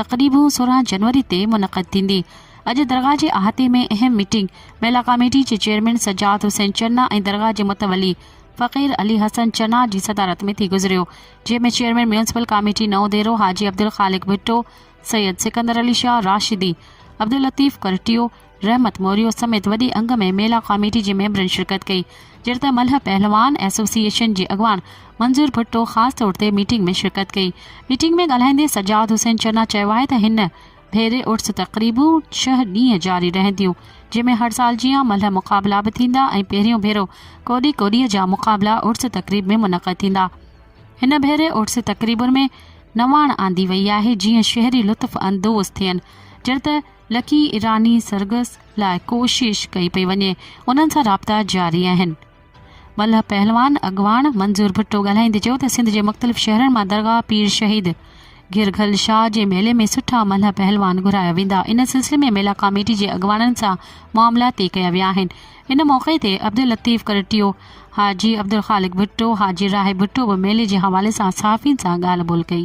تقريبون سورهن جنوري تي منعقد ٿيندي. اڄ درگاهه جي احاطي ۾ اهم ميٽنگ ميلا ڪاميٽي جي چيئرمين سجاد حسين چنا ۽ درگاهه جي متولي فقير علي حسن چنا جي صدارت ۾ ٿي گذريو جنهن ۾ chairman municipal committee Naudero حاجي عبدالخالق ڀٽو، سيد سڪندر علي شاهه راشدي، عبداللطيف ڪرٽيو، رحمت موريو سميت وڏي انگ ۾ ميلا ڪاميٽي جي ميمبرن شرڪت ڪئي جهڙته ملهه پهلوان ايسوسيئيشن جي اڳواڻ منظور ڀٽو خاص طور تي ميٽنگ ۾ شرڪت ڪئي ميٽنگ ۾ ڳالهائيندي سجاد حسين چنا چيو آهي ته هن ڀيري عرس تقريبون ڇهه ڏينهن جاري رهنديون جنهن ۾ هر سال جيان ملهه مقابلا به ٿيندا ۽ پهريون ڀيرو ڪوڏي ڪوڏي جا مقابلا عرس تقريب ۾ منعقد ٿيندا هن ڀيري عرس تقريبن ۾ نواڻ آندي وئي آهي جيئن شهري لطف اندوز ٿين جهڙته لکي ايراني سرگس لاء ڪوشش ڪئي پئي وڃي، انهن سان رابطا جاري آهن. ملهه پهلوان اڳواڻ منظور ڀٽو ڳالهائيندي چيو ته سنڌ جي مختلف شهرن مان درگاهه پير شهيد گهرگهل شاهه جي ميلي ۾ سٺا ملهه پهلوان گهرايا ويندا، ان سلسلي ۾ ميلا ڪاميٽي جي اڳواڻن سان معاملا طئي ڪيا ويا آهن. ان موقعي تي عبداللطيف ڪرٽيو، حاجي عبدالخالق ڀٽو، حاجي راهي ڀٽو به ميلي جي حوالي سان صحافين سان ڳالهه ٻولهه ڪئي.